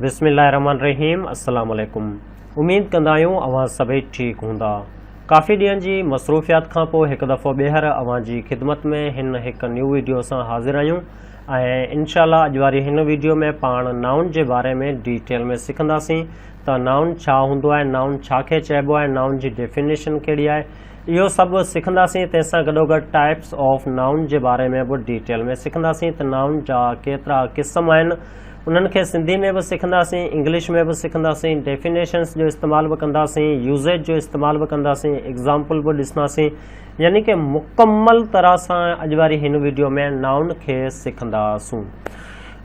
بسم الله الرحمن الرحيم السلام عليڪم اميد ڪندا آهيون اوهان سڀئي ٺيڪ هوندا ڪافي ڏينهن جي مصروفيات کان پوء هڪ دفعو ٻيهر اوهان جي خدمت ۾ هن هڪ نيو ويڊيو سان حاضر آهيون ۽ انشاء الله اڄ واري هن ويڊيو ۾ پاڻ نائون جي باري ۾ ڊيٽيل ۾ سکنداسين ته نائون ڇا هوندو آهي نائون ڇا کي چئبو آهي نائون جي ڊيفينيشن ڪهڙي آهي اهو سڀ سکنداسين، تنهن سان گڏوگڏ ٽائپس آف نائون جي باري ۾ به ڊيٽيل ۾ سکنداسين ته نائون جا ڪيترا قسم آهن، انهن کي سنڌي ۾ به سکنداسين، انگلش ۾ به سکنداسين، ڊيفينيشنس جو استعمال به ڪنداسين، يوزيج جو استعمال به ڪنداسين، ايگزامپل به ڏسنداسين، يعني ڪه مڪمل طرح سان اڄ واري هن وڊيو ۾ نائون کي سکنداسون.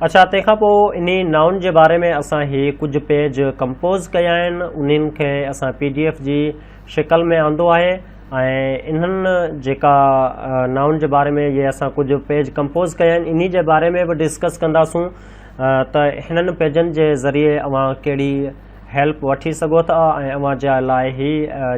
اڇا تنهن کان پوء انهي نائون جي باري ۾ اسان هي ڪجهه پيج ڪمپوز ڪيا آهن، انهن کي اسان پي ڊي ايف جي شڪل ۾ آندو آهي ۽ انهن جيڪا نائون جي باري ۾ جي اسان ڪجهه پيج ڪمپوز ڪيا آهن انهي جي باري ۾ به ڊسڪس ڪنداسون ته هنن پيجن جي ذريعي اوهان ڪهڙي هيلپ وٺي سگهو ٿا ۽ اوهان جي لاء هي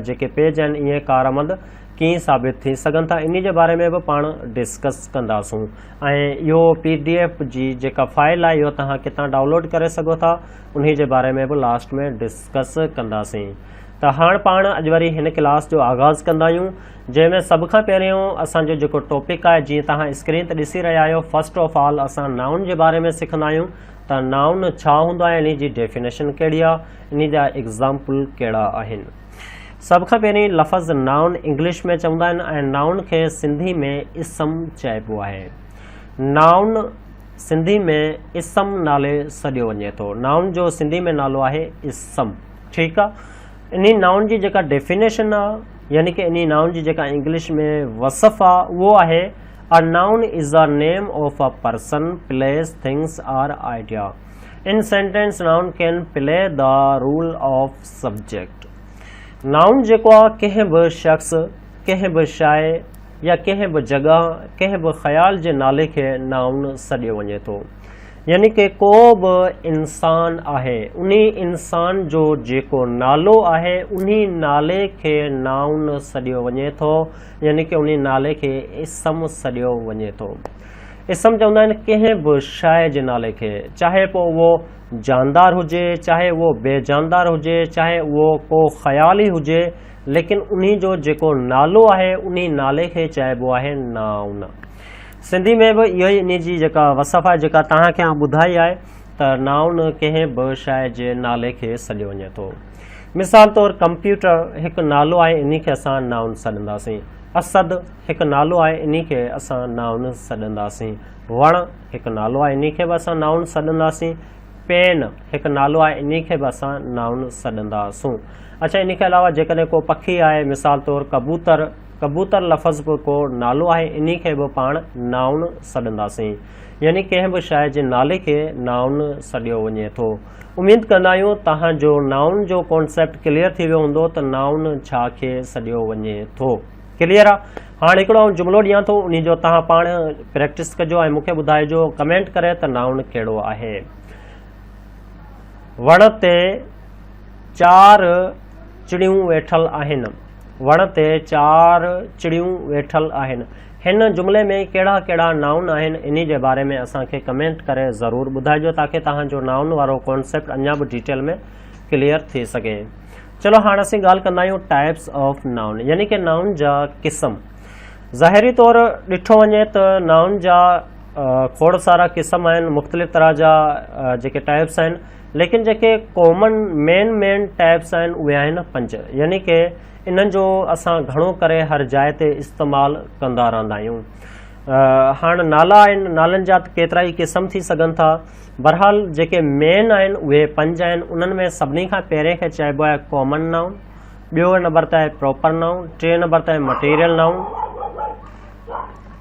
جيڪي پيج آهن اهي ڪارآمد ڪيئن ثابت ٿي سگهن ٿا انهي جي باري ۾ به پاڻ ڊسڪس ڪنداسون ۽ اهو پي ڊي ايف جي جيڪا فائل آهي اهو توهان ڪتان ڊائونلوڊ ڪري سگهو ٿا انهي جي باري ۾ به لاسٽ ۾ ڊسڪس ڪنداسين ته هاڻ پاڻ اڄ وري هن ڪلاس جو آغاز ڪندا آهيون جنهن ۾ سڀ کان پهريون اسان جو جيڪو ٽاپڪ آهي جيئن توهان اسڪرين تي ڏسي رهيا آهيو فرسٽ آف آل اسان نائون جي باري ۾ سکندا آهيون ته نائون ڇا هوندو آهي انهي جي ڊيفينيشن ڪهڙي آهي انهي جا ايگزامپل ڪهڙا آهن سڀ کان پهرين لفظ نائون انگلش ۾ چوندا آهن ۽ نائون کي سنڌي ۾ اسم چئبو آهي نائون سنڌي ۾ اسم نالي سڏيو وڃي ٿو نائون جو سنڌي ۾ نالو آهي اسم ٺيڪ آ انهي نائون جي جيڪا ڊيفينيشن آ يعني ڪه انهي نائون جي جيڪا انگلش ۾ وصف آ اهو آهي A noun is the name of a person, place, things or idea. In sentence, noun can play the role of subject. نائون جيڪو آ ڪنهن به شخص ڪنهن به شاعر يا ڪنهن به جڳهه ڪنهن به خيال جي نالي کي نائون سڏيو وڃي ٿو يعني ڪي ڪو به انسان آهي، انهي انسان جو جيڪو نالو آهي، انهي نالي کي نائون سڏيو وڃي ٿو، يعني ڪي انهي نالي کي اسم سڏيو وڃي ٿو. اسم چوندا آهن ڪنهن به شيء جي نالي کي، چاهي پوء اهو جاندار هجي، چاهي اهو بي جاندار هجي، چاهي اهو ڪو خيال ئي هجي، ليڪن انهي جو جيڪو نالو آهي، انهي نالي کي چئبو آهي نائون. سنڌي ۾ به اهو ئي انهي جي جيڪا وصف آهي جيڪا توهان کي آئون ٻڌائي آهي ته نائون ڪنهن به شيء جي نالي کي سڏيو وڃي ٿو. مثال طور ڪمپيوٽر هڪ نالو آهي انهي کي اسان نائون سڏنداسين. اسد هڪ نالو آهي انهي کي اسان نائون سڏنداسين. وڻ هڪ نالو آهي انهي کي به اسان نائون سڏنداسين. پين هڪ نالو آهي انهي کي به اسان نائون سڏنداسون. اڇا انهي کي علاوه جيڪڏهن ڪو پکي آهي مثال طور ڪبوتر، ڪبوتر لفظ به ڪو نالو آهي انهي کي به پاڻ نائون سڏنداسين يعني ڪنهن به شيء جي نالي کي نائون سڏيو وڃي ٿو. اميد ڪندا آهيون تهان جو نائون جو ڪانسيپٽ ڪليئر ٿي ويو هوندو ته نائون ڇا کي سڏيو وڃي ٿو. ڪليئر آ. هاڻ هڪڙو آئون جملو ڏيان ٿو انهي جو تهان پاڻ پريڪٽس ڪجو ۽ مون کي ٻڌائجو ڪمينٽ ڪري ته نائون ڪهڙو آهي. وڻ تي چار چڙيون ويٺل آهن. وڻ تي چار چڙيون ويٺل آهن. هن جملي ۾ ڪهڙا ڪهڙا نائون آهن انهي جي باري ۾ اسان کي ڪمينٽ ڪري ضرور ٻڌائجو تاڪي توهان جو نائون وارو ڪانسيپٽ اڃا به ڊيٽيل ۾ ڪليئر ٿي سگهي. چلو هاڻ اسين ڳالهه ڪندا آهيون ٽائپس آف نائون يعني ڪي نائون جا قسم. ظاهري طور ڏٺو وڃي ته نائون جا کوڙ سارا قسم آهن مختلف طرح جا جيڪي ٽائپس آهن. ليڪن جيڪي ڪامن مين مين ٽيپس آهن اهي آهن پنج يعني ڪي انهن جو اسان گهڻو ڪري هر جاء تي استعمال ڪندا رهندا آهيون هاڻ نالا آهن نالن جا ڪيترا ئي قسم ٿي سگهن ٿا بهرحال جيڪي مين آهن اهي پنج آهن انهن ۾ سڀني کان پهرين کي چئبو آهي ڪامن نائون ٻيو نمبر تي آهي پراپر نائون ٽي نمبر تي آهي مٽيريل نائون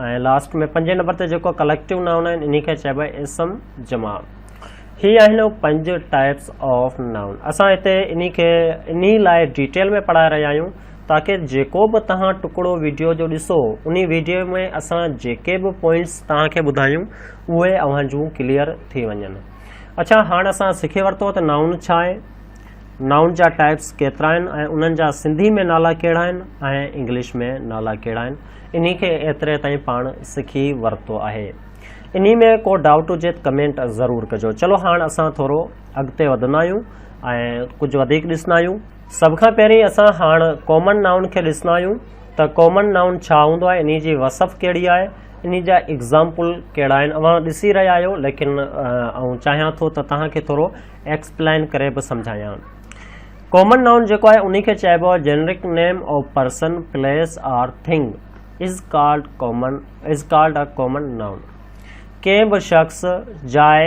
۽ لاسٽ ۾ پنجين نمبر تي جيڪو ڪليڪٽو نائون آهن انهي کي چئبو آهي اسم جمع هي آهن پنج ٽائپس آف نائون اسان هتي انهي کي انهي لاء ڊيٽيل ۾ پڙهائي رهيا آهيون تاڪي جيڪو به توهان ٽڪڙو ويڊيو جو ڏسو انهي ويڊيو ۾ اسان جيڪي به پوائنٽس توهان کي ٻڌايون اهي اوهان جون ڪليئر ٿي وڃن اڇا هاڻ اسان سکي ورتو ته نائون ڇا آهي نائون جا ٽائپس ڪيترا آهن ۽ انهن جا سنڌي ۾ نالا ڪهڙا آهن ۽ انگلش ۾ نالا ڪهڙا آهن انهي کي ايتري تائين پاڻ سکي ورتو آهي انهي ۾ ڪو ڊائوٽ هجي ته ڪمينٽ ضرور ڪجو چلو هاڻ اسان ٿورو اڳتي وڌندا آهيون ۽ ڪجهه وڌيڪ ڏسندا آهيون سڀ کان پهرين اسان هاڻ ڪامن نائون کي ڏسندا آهيون ته ڪامن نائون ڇا هوندو آهي انهي جي وصف ڪهڙي آهي انهي جا ايگزامپل ڪهڙا آهن اوهان ڏسي رهيا آهيو ليڪن آئون چاهيان ٿو ته توهان کي ٿورو ايڪسپلائن ڪري به سمجهايان ڪامن نائون جيڪو آهي انهي کي چئبو آهي generic name of person place or thing is called common is called a common noun ڪنهن به شخص جاء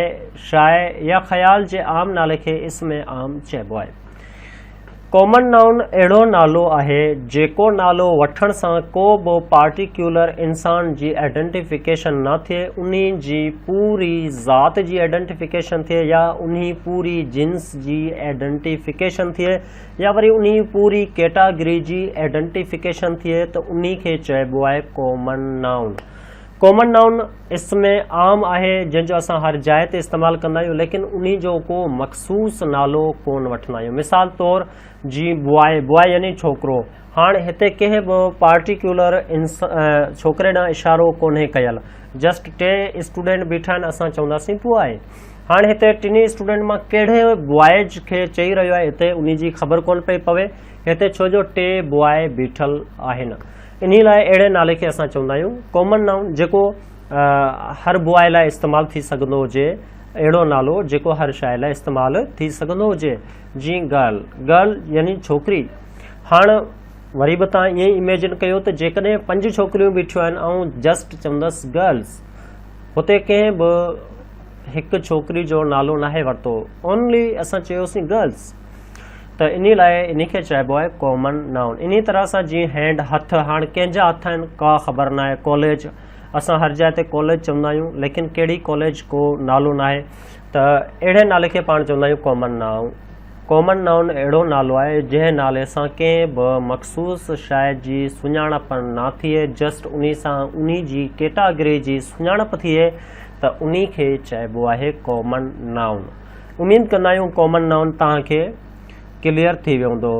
شاء يا خيال جي عام نالي کي اسم عام چئبو آهي ڪامن نائون اهڙو نالو آهي جيڪو نالو وٺڻ سان ڪو به پارٽيڪيولر انسان جي آئيڊنٽيفڪيشن نه ٿئي انهي جي پوري ذات جي آئيڊنٽيفڪيشن ٿئي يا انهي پوري جنس جي ائڊنٽيفڪيشن ٿئي يا وري انهي پوري ڪيٽاگري جي ائڊنٽيفڪيشن ٿئي ته انهي کي چئبو آهي ڪامن نائون. ڪامن نائون اسم عام آهي جنهن جو اسان هر جاء تي استعمال ڪندا آهيون ليڪن انهي جو ڪو مخصوص نالو ڪون وٺندا آهيون مثال طور جي بواء، بواء يعني ڇوڪرو، هاڻ هتي ڪنهن به پارٽيڪيولر ڇوڪري ڏانهن اشارو ڪونهي ڪيل جسٽ ٽي اسٽوڊنٽ بيٺا آهن اسان چونداسين پوء آهي هاڻ هتي ٽنهي اسٽوڊنٽ مان ڪهڙي بوائز کي چئي رهيو آهي هتي ان جي خبر ڪونه پئي پوي هتي ڇو جو ٽي بواء بيٺل آهن انهي لاء اهڙي نالي کي اسان چوندا آهيون ڪامن نائون جيڪو هر بواء لاء استعمال ٿي سگهندو هجي اهڙو نالو جيڪو هر شاعر لاء استعمال ٿي سگهندو هجي جي گرل، Girl، يعني ڇوڪري. هاڻ وري به توهان ائين ئي اميجن ڪيو ته جيڪڏهن پنج ڇوڪريون بيٺيون آهن آئون جسٽ چوندس گرلز. هتي ڪنهن به هڪ ڇوڪري جو نالو ناهي ورتو اونلي اسان چيوسين گرلز. ته انهي لاء انهي کي چئبو آهي ڪامن نائون. انهي طرح سان جيئن هينڊ، هٿ، هاڻ ڪنهن جا هٿ آهن ڪا خبر ناهي، ڪاليج، اسان هر جاء تي ڪاليج چوندا آهيون ليڪن ڪهڙي ڪاليج ڪو نالو ناهي ته اهڙي نالي کي پاڻ چوندا آهيون ڪامن نائون. ڪامن نائون اهڙو نالو آهي جنهن نالي سان ڪنهن به مخصوص شيء جي سڃاڻپ نه ٿئي جسٽ انهي سان انهي جي ڪيٽاگري جي سڃاڻپ ٿئي ته انهي کي چئبو آهي ڪامن نائون. اميد ڪندا آهيون ڪامن نائون توهان کي ڪليئر ٿي ويو هوندو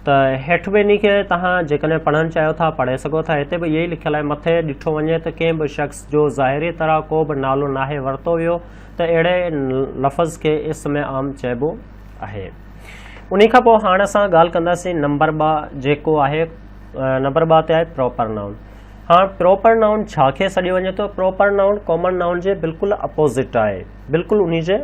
ته هيٺ به انهي کي توهان جيڪڏهن پڙهڻ چاهيو ٿا پڙهي سگهو ٿا هتي به اهي ئي لکيل آهي مٿي ڏٺو وڃي ته ڪنهن به شخص جو ظاهري طرح ڪو به نالو ناهي ورتو ويو ته اهڙي لفظ کي اسم عام چئبو آهي انهي کان پوء هاڻ اسان ڳالهه ڪنداسين نمبر ٻه جيڪو آهي نمبر ٻه تي آهي پروپر نائون ها پروپر نائون ڇا کي سڏيو وڃي ٿو پروپر نائون ڪامن نائون جي بلڪل اپوزٽ آهي بلڪل انهي جي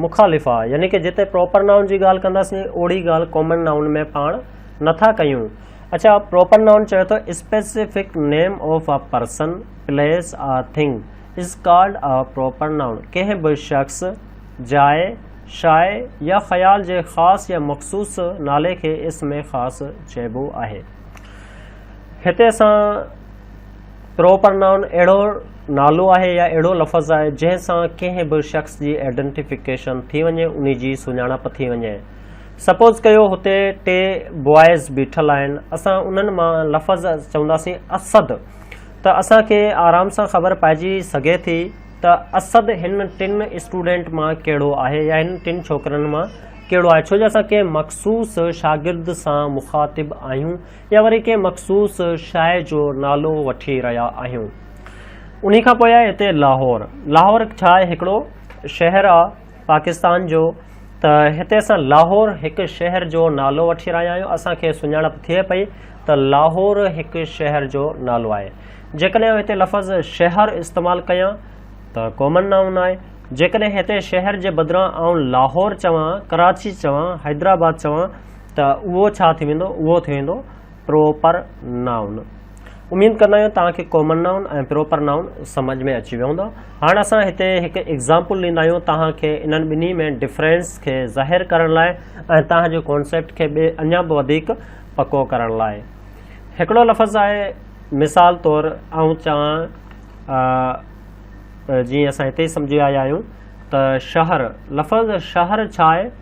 مخالفا، يعني ڪه جتي پراپر نائون جي ڳالهه ڪنداسين، اوڙي ڳالهه ڪامن نائون ۾ پاڻ نه ٿا ڪيون. اڇا، پراپر نائون چوي ٿو، specific name of a person, place or thing is called a proper noun. ڪنهن به شخص، جاء، شاء يا خيال جي خاص يا مخصوص نالي کي اسم خاص چئبو آهي. هتي اسان. پروپرنائون اهڙو نالو آهي يا اهڙو لفظ آهي جنهن سان ڪنهن به شخص جي ائڊنٽيفڪيشن ٿي وڃي انهي جي سڃاڻپ ٿي وڃي. سپوز ڪيو هتي ٽي بوائز بيٺل آهن اسان انهن مان لفظ چونداسين اسد ته اسان کي آرام سان خبر پائجي سگهي ٿي ته اسد هن ٽن اسٽوڊنٽ مان ڪهڙو آهي يا هن ٽن ڇوڪرن مان ڪهڙو آهي ڇو جو اسان ڪنهن مخصوص شاگرد سان مخاطب آهيون يا وري ڪنهن مخصوص شاعر جو نالو وٺي رهيا آهيون. انهي کان پوء آهي هتي لاهور. لاهور ڇا آهي هڪڙو شهر آ پاڪستان جو ته هتي اسان لاهور هڪ شهر جو نالو وٺي رهيا آهيون اسان کي سڃاڻپ ٿئي پئي ته لاهور هڪ شهر جو نالو آهي جيڪڏهن آئون هتي لفظ شهر استعمال ڪيان ته ڪامن نائون آهي جيڪڏهن هتي شهر جي بدران آئون لاهور چوان ڪراچي چوان حيدرآباد چوان ته اهو ڇا ٿي ويندو؟ اهو ٿي ويندو پروپر نائون. اميد ڪندا آهيون توهان کي ڪامن نائون ۽ پروپر نائون سمجهه ۾ اچي ويو هوندو. هاڻ اسان هتي هڪ ايگزامپل ڏيندا آهيون توهان کي انهن ٻنهي ۾ ڊفرنس کي ظاهر ڪرڻ لاء ۽ توهان جي ڪانسيپٽ کي ٻي اڃا به وڌيڪ پڪو ڪرڻ لاء. هڪڙو لفظ آهي مثال طور آئون چوان جيئن اسان هتي سمجهي آيا آهيون ته شهر لفظ شهر ڇا آهي؟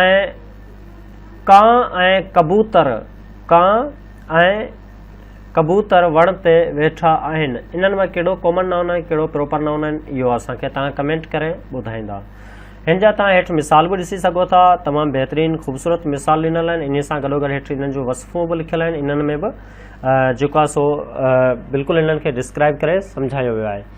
۽ ڪانء ۽ ڪبوتر، ڪانء ۽ ڪبوتر وڻ تي ويٺا آهن انهن مان ڪهڙو ڪامن نائون آهن ڪهڙو پروپر نائون آهن اهو اسان کي توهان ڪمينٽ ڪري ٻڌائيندا هن جا توهان هيٺ مثال به ڏسي سگهو ٿا تمام بهترين خوبصورت مثال ڏنل آهن انهي سان گڏو گڏ هيٺ انهن جون وصفون به لکيل آهن انهن ۾ به جيڪو سو بلڪل انهن کي ڊسڪرائب ڪري سمجهايو ويو آهي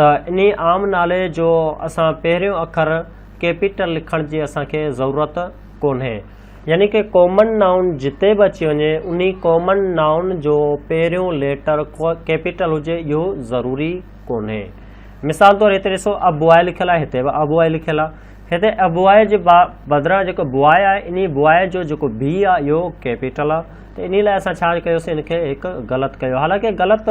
ته انهي عام نالي جو اسان پهريون اکر ڪيپيٽل لکڻ جي اسان کي ضرورت ڪونهي. يعني ڪي ڪامن نائون جتي به اچي وڃي انهي ڪامن نائون جو پهريون ليٽر ڪيپيٽل هجي اهو ضروري ڪونهي. مثال طور هتي ڏسو a boy لکيل آهي هتي به a boy لکيل آهي. هتي a boy جي بدران جيڪو boy آهي انهي boy جو جيڪو b آهي اهو ڪيپيٽل آهي ته انهي لاء اسان ڇا ڪيوسين ان کي هڪ غلط ڪيو حالانڪه غلط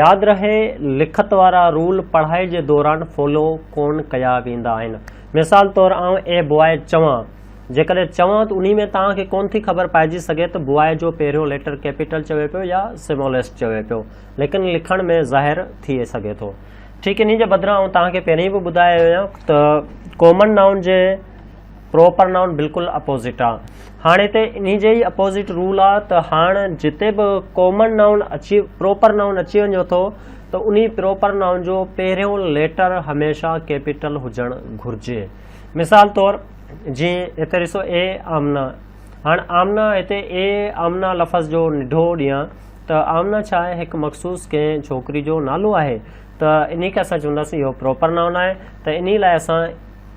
ياد رهي لکت وارا رول پڙهائي جي دوران فالو ڪون ڪيا ويندا آهن. مثال طور آئون اي بواء چوان. جيڪڏهن چوان ته انهي ۾ توهان کي ڪون ٿي خبر پائجي سگهي ته بواء جو پهريون ليٽر ڪيپيٽل چوي پيو يا سماليسٽ چوي پيو ليڪن لکڻ ۾ ظاهر ٿي سگهي ٿو. ٺيڪ انهي جي بدران آئون توهان کي پهرين به ٻڌايو هيو ته ڪامن نائون جي پروپر نائون بلڪل اپوزٽ آ هاڻي هتي انهي جي ئي اپوزٽ رول آ ته هاڻ جتي به ڪامن نائون اچي پروپر نائون اچي وڃي ٿو ته انهي پروپر نائون جو پهريون ليٽر هميشه ڪيپيٽل هجڻ گهرجي مثال طور جي هتي ڏسو اي آمنا هاڻ آمنا هتي اي آمنا لفظ جو نڍو ڏيان ته آمنا ڇا آهي هڪ مخصوص ڪنهن ڇوڪري جو نالو آهي ته انهي کي اسان چونداسين اهو پروپر نائون آهي ته انهي لاء اسان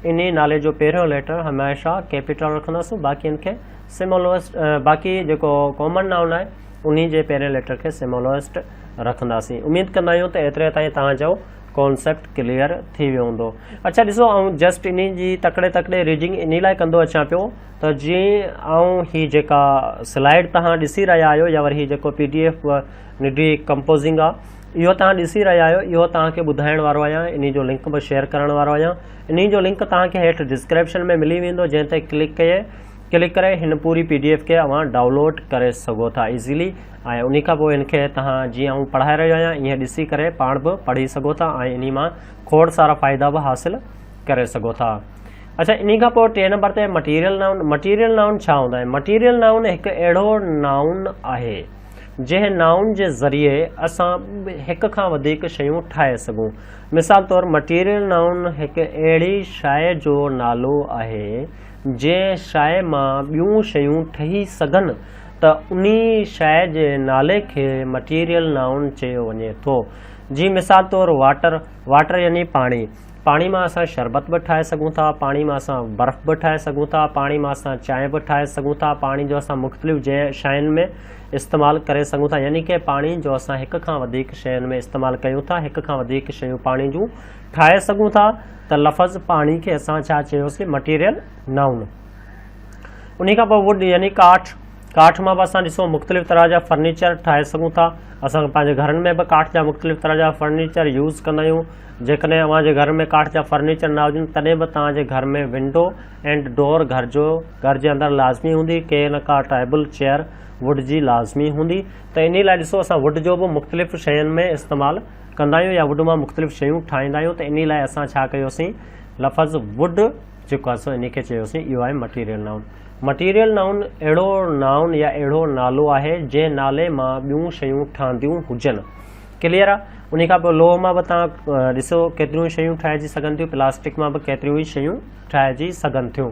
انهيء نالي جو پهريون ليٽر هميشه ڪيپيٽل رکندس، باقين کي سمولوئسٽ باقي جيڪو ڪامن نائون آهي انهي جي پهرين ليٽر کي سمولوئسٽ رکنداسين. اميد ڪندا آهيون ته ايتري تائين توهان جو ڪانسيپٽ ڪليئر ٿي ويو هوندو. اڇا ڏسو آئون جسٽ انهي جي تڪڙي تڪڙي ريڊنگ انهي لاء ڪندو اچان پيو ته جيئن آئون هي جيڪا سلائيڊ توهان ڏسي رهيا آهيو يا وري هي جيڪو پي ڊي ايف نڊي ڪمپوزنگ آ اهو توهان ڏسي رهيا آهيو اهو توهان کي ٻڌائڻ وارو آهيان انهي جو لنڪ به شيئر ڪرڻ وارو آهيان انهي جو لنڪ توهان کي هيٺ ڊسڪريپشن ۾ ملي ويندو جنهن تي ڪلڪ ڪئي ڪلڪ ڪري هن پوري پي ڊي ايف کي اوهان ڊائونلوڊ ڪري سگهو ٿا ايزيلي ۽ انهي کان پوء هن کي توهان جيئن آئون پڙهائي رهيو آهيان ايئن ڏسي ڪري پاڻ به پڙهي سگهو ٿا ۽ انهي مان کوڙ سارا فائدا به حاصل ڪري سگهو ٿا اڇا انهي کان پوء ٽئين نمبر تي مٽيريل نائون مٽيريل نائون ڇا هوندا آهن مٽيريل نائون هڪ اهڙو نائون آهي جنهن نائون جي ذريعي اسان هڪ کان وڌيڪ شيون ٺاهي سگهون. مثال طور مٽيريل نائون هڪ اهڙي شاء جو نالو آهي جنهن شاء مان ٻيون شيون ٺهي سگهن ته انهي شاء جي نالي کي مٽيريل نائون چيو وڃي ٿو. جي مثال طور واٽر، Water، يعني پاڻي. پاڻي مان اسان شربت به ٺاهي سگهون ٿا، پاڻي مان اسان برف به ٺاهي سگهون ٿا، پاڻي مان اسان چانهه به ٺاهي سگهون ٿا، پاڻي جو اسان مختلف جي شين ۾ استعمال ڪري سگهون ٿا يعني ڪه پاڻي جو اسان هڪ کان وڌيڪ شين ۾ استعمال ڪيون ٿا، هڪ کان وڌيڪ شيون پاڻي جون ٺاهي سگهون ٿا ته لفظ پاڻي کي اسان ڇا چيوسي مٽيريل نائون انهي کان پوء ووڊ يعني ڪاٺ، ڪاٺ مان به اسان ڏسو مختلف طرح جا فرنيچر ٺاهي سگهون ٿا اسان کي پنهنجي گهرن ۾ به ڪاٺ جا مختلف طرح جا فرنيچر يوز ڪندا آهيون جيڪڏهن اوهان جي گهر ۾ ڪاٺ جا فرنيچر نه هجن تڏهن به توهان جي گهر ۾ ونڊو اينڊ ڊور گهر جو گهر جي اندر لازمي هوندي ڪي نه ڪا ٽائبل چيئر ووڊ جي لازمي هوندي ته انهي لاء ڏسو اسان ووڊ جو به مختلف شين ۾ استعمال ڪندا آهيون يا ووڊ مان مختلف شيون ٺاهيندا آهيون ته انهي لاء اسان ڇا ڪيوسين لفظ ووڊ جيڪو اسان انهي کي چيوسين اهو آهي مٽيريل نائون. مٽيريل نائون اهڙو نائون يا اهڙو نالو آهي جنهن نالي مان ٻيون شيون ٺهنديون هجن. ڪليئر آ؟ انهي کان پوء لوهه مان به توهان ڏسو ڪيتريون ئي شيون ٺاهجي سگهن ٿيون پلاسٽڪ مان به ڪيتريون ئي شيون ٺاهجي سگهن ٿيون.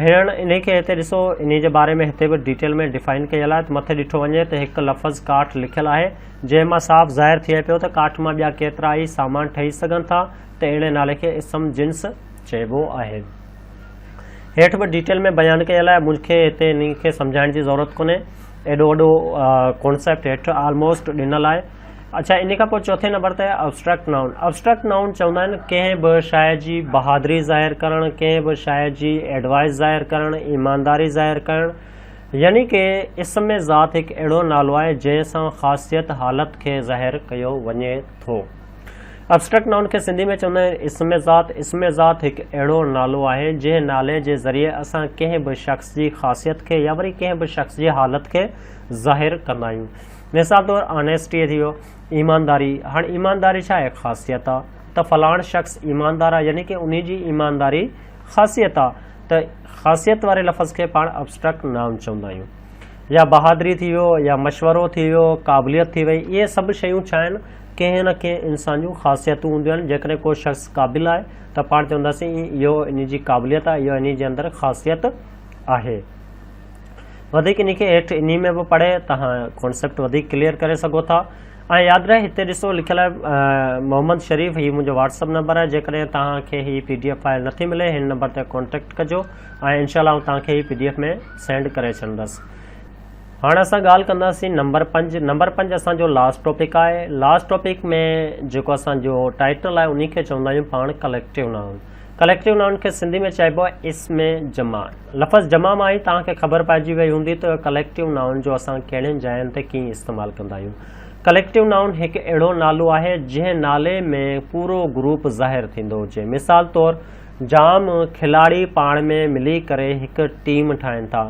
هيڻ انهي کي هتي ڏسو انهي جي باري ۾ هتي به ڊيٽيل ۾ ڊيفائن ڪيل آهي ته مٿي ڏٺو وڃي ته هڪ لفظ ڪاٺ لکيل آهي جنهن مان صاف ظاهر ٿئي پيو ته ڪاٺ مان ٻيا ڪيترا ئي سامان ٺهي سگهن ٿا ته اهڙي نالي کي اسم جنس چئبو آهي. هيٺ به ڊيٽيل ۾ بيان ڪيل آهي، مون کي هتي انهي کي سمجهائڻ جي ضرورت ڪونهي، ايڏو وڏو ڪانسيپٽ هيٺ آلموسٽ ڏنل آهي. اڇا انهي کان پوء چوٿين نمبر تي آهي ابسٽريڪٽ نائون. ابسٽريڪٽ نائون چوندا آهن ڪنهن به شاعر جي بهادري ظاهر ڪرڻ، ڪنهن به شاعر جي ايڊوائيس ظاهر ڪرڻ، ايمانداري ظاهر ڪرڻ، يعني ڪي اسم ذات هڪ اهڙو نالو آهي جنهن سان خاصيت حالت کي ظاهر ڪيو وڃي ٿو. ابسٽريڪٽ نائون کي سنڌي ۾ چوندا آهن اسم ذات، اسم ذات هڪ اهڙو نالو آهي جنهن نالي جي ذريعي اسان ڪنهن به شخص جي خاصيت کي يا وري ڪنهن به شخص جي حالت کي ظاهر ڪندا آهيون مثال طور آنيسٽي ٿي ويو ايمانداري هاڻ ايمانداري ڇا هڪ خاصيت آ ته فلاڻ شخص ايماندار آ يعني ڪي انهي جي ايمانداري خاصيت آ ته خاصيت واري لفظ کي پاڻ ابسٽريڪٽ نائون چوندا آهيون يا بهادري ٿي ويو يا مشورو ٿي ويو قابليت ٿي وئي اهي سڀ شيون ڇا آهن ڪنهن نه ڪنهن انسان جون خاصيتون هونديون آهن جيڪڏهن ڪو شخص قابل آهي ته پاڻ چونداسين اهو انهي جي قابليت آهي اهو انهي جي اندر خاصيت آهي وڌيڪ انهي کي هيٺ انهي ۾ به پڙهي توهان ڪانسيپٽ وڌيڪ ڪليئر ڪري سگهو ٿا ۽ ياد رهي هتي ڏسو لکيل آهي محمد شريف هي منهنجو واتسپ نمبر آهي جيڪڏهن توهان کي هي پي ڊي ايف فائل نٿي ملي هن نمبر تي ڪانٽيڪٽ ڪجو ۽ انشاء الله آئون توهان کي هي پي ڊي ايف ۾ سينڊ ڪري ڇڏندس هاڻ اسان ڳالهه ڪنداسين نمبر پنج نمبر پنج اسان جو لاسٽ ٽاپڪ آهي لاسٽ ٽاپڪ ۾ جيڪو اسان جو ٽائٽل آهي انهي کي چوندا آهيون پاڻ ڪليڪٽو نائون ڪليڪٽو نائون کي سنڌي ۾ چئبو آهي اسم جمع لفظ جمع مان ئي توهان کي خبر پئجي وئي هوندي ته ڪليڪٽو نائون جو اسان ڪهڙين جاين تي ڪيئن استعمال ڪندا آهيون ڪليڪٽو نائون هڪ اهڙو نالو آهي جنهن نالي ۾ پورو گروپ ظاهر ٿيندو هجي مثال طور جام کلاڙي پاڻ ۾ ملي ڪري هڪ ٽيم ٺاهين ٿا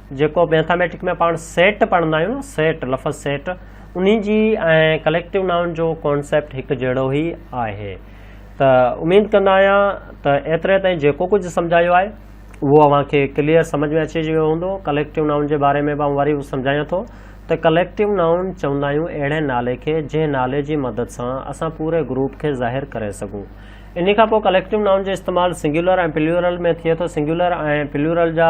جيڪو ميٿاميٽڪ ۾ پاڻ سيٽ پڙهندا آهيون نه سيٽ لفظ سيٽ انهي جي ۽ ڪليڪٽو نائون جو ڪانسيپٽ هڪ جهڙو ئي آهي ته اميد ڪندا آهيان ته ايتري تائين جيڪو ڪجهه سمجھايو آهي اهو اوهان کي ڪليئر سمجھ ۾ اچي ويو هوندو ڪليڪٽو نائون جي باري ۾ به آئون وري سمجھايان ٿو ته ڪليڪٽو نائون چوندا آهيون اهڙي نالي کي جنهن نالي جي مدد سان اسان پوري گروپ کي ظاهر ڪري سگھون انهي کان پوء ڪليڪٽو نائون جو استعمال سنگيولر ۽ پليورل ۾ ٿئي ٿو سنگيولر ۽ پليورل جا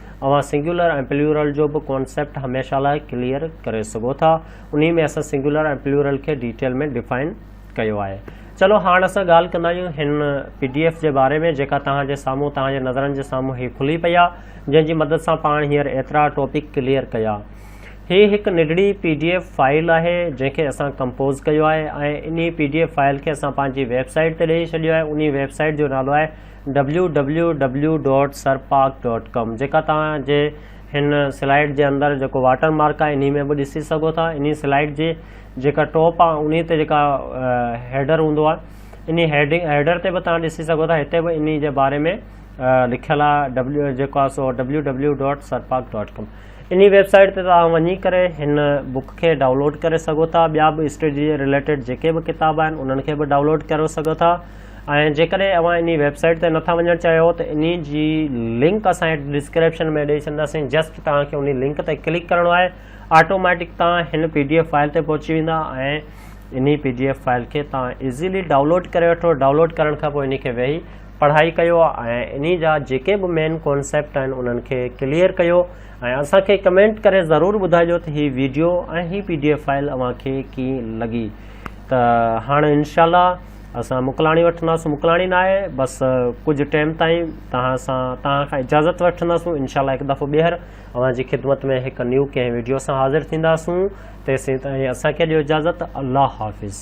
اوهان سنگيولر ۽ پليورل جو به ڪانسيپٽ هميشه لاء ڪليئر ڪري سگهو ٿا. انهي ۾ اسان سنگيولر ۽ پليورل کي ڊيٽيل ۾ ڊفائن ڪيو آهي. چلو هاڻ اسان ڳالهه ڪندا آهيون هن پي ڊي ايف جي باري ۾ جيڪا توهان جي سامهون توهان جي نظرن جي سامهون هي کلي پئي آهي جنهن جي مدد سان پاڻ هينئر ايترا ٽاپڪ ڪليئر ڪيا. هي هڪ ننڍڙي پي ڊي ايف فائل آهي جنهن کي اسان ڪمپوز ڪيو آهي ۽ انهي پي ڊي ايف فائل کي اسان پنهنجي ويب سائيٽ تي ڏئي ڇڏيو آهي انهي ويب سائيٽ جو نالو آهي ڊبليو ڊبليو ڊبليو ڊاٽ سرپاڪ ڊاٽ ڪام جيڪا توهان جي هن سلائيڊ جي اندر جيڪو واٽر مارڪ آهي انهي ۾ به ڏسي سگهو ٿا انهي سلائيڊ جي جيڪا ٽاپ آهي انهي تي جيڪا هيڊر هوندو آهي انهي هيڊنگ هيڊر تي به توهان ڏسي سگهو ٿا هتي به انهي جي باري ۾ لکيل آهي ڊبليو جيڪو آهي سو ڊبليو ڊبليو ڊاٽ سرپاڪ ڊاٽ ڪام انهي ويب سائيٽ تي توهان وڃي ڪري هن بک کي ڊائونلوڊ ڪري سگهو ٿا ٻيا به اسٽڊي جي رليٽيڊ جيڪي به ڪتاب آهن انهن کي به ڊائونلوڊ ڪري سگهو ٿا ۽ جيڪڏهن اوهان انهي ويب سائيٽ تي نٿا وڃڻ چاهيو ته انهي جي لنڪ اسان هيٺ ڊسڪريپشن ۾ ڏئي ڇڏنداسين جسٽ توهان کي انهي لنڪ تي ڪلڪ ڪرڻو آهي آٽوميٽڪ توهان هن پي ڊي ايف فائل تي پهچي ويندا ۽ انهي پي ڊي ايف فائل کي توهان ايزيلي ڊائونلوڊ ڪري وٺو ڊائونلوڊ ڪرڻ کان پوء انهي کي ويهي پڙهائي ڪيو ۽ انهي جا جيڪي به مين ڪانسيپٽ آهن انهن کي ڪليئر ڪيو ۽ اسان کي ڪمينٽ ڪري ضرور ٻڌائجو ته هي ويڊيو ۽ هي پي ڊي ايف فائل اوهان کي ڪيئن لڳي ته هاڻ انشاء الله اسان مڪلاڻي وٺنداسون مڪلاڻي ناهي بس ڪجهه ٽيم تائين توهان سان توهان کان اجازت وٺنداسون انشاء الله هڪ دفعو ٻيهر اوهان جي خدمت ۾ هڪ نيو ڪنهن ويڊيو سان حاضر ٿينداسون تيسين تائين اسان کي ڏيو اجازت الله حافظ